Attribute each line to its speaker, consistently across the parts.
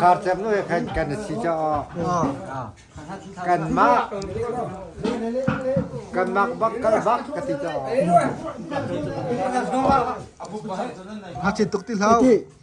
Speaker 1: Kartep nu kan kan si cha kan ma kan mak bak kan bak ka ti cha ha chin tuk ti hlau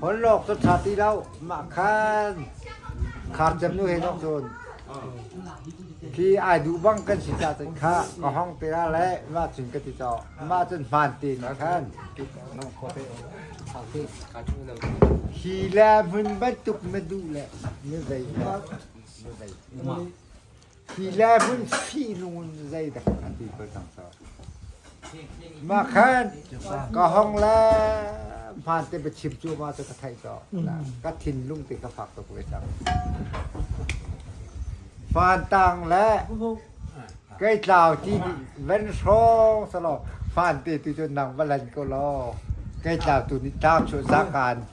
Speaker 1: Holhlawk cu ṭha ti lo, mah khan khar cem nu he zong cun khi ai duh bang kan si ca cun khah ka hong te ra le mah cun ka ti cawk. Mah cun hmaan tein a khan. Hi le hmun bantuk na duh le na zei hngat? Na zei hngat? Hi le vun fihnung in zeidah an ti bal cang cu? Mah khan ka hong le hmaan te va chim cu ma cu ka theih cu. Ka thinlung te ka fak tuk ve cang. Fantang le kei tlau ti nih van hrawng sa law fante tu cu nang va lan ko law kei tlau tu nih tlau chuah zakan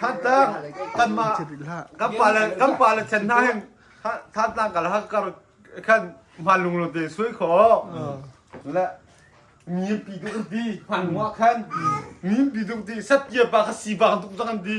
Speaker 1: Thantak kanmah kan pa le kan pa le chen hna hin thantak kal ha kar khan man lung lo te sui kho le mi pi duk di man wa khan mi pi duk di sat kia ba ka si ba duk kan di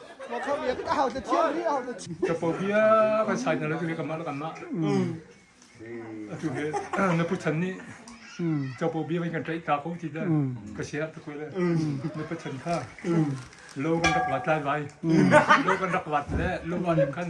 Speaker 1: Capo bia vai sai na lagi kamah la kamah. Atu he na puchan ni capo bia vai kan trai ta ko ti da ka sia ta ko le na puchan kha lo kan rak wat lai vai lo kan rak wat le lo wa lim khan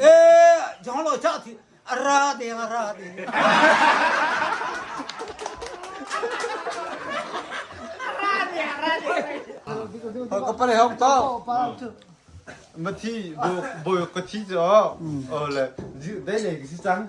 Speaker 1: Eh, John lo cha thi ara de ara de. Ka pale hong to. Mathi bo bo ka thi jo. Oh le dai le si chang.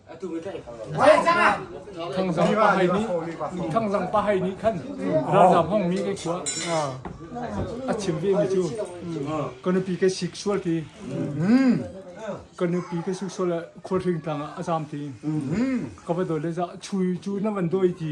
Speaker 1: thangzang pa hai nih thangzang pa hai nih khan ralzam hong mi ke khua a chim ve mi chu konupi ke sexual ti konupi ke sexual khur hring tang a zam ti ka ba dole za chui chu na van doi ti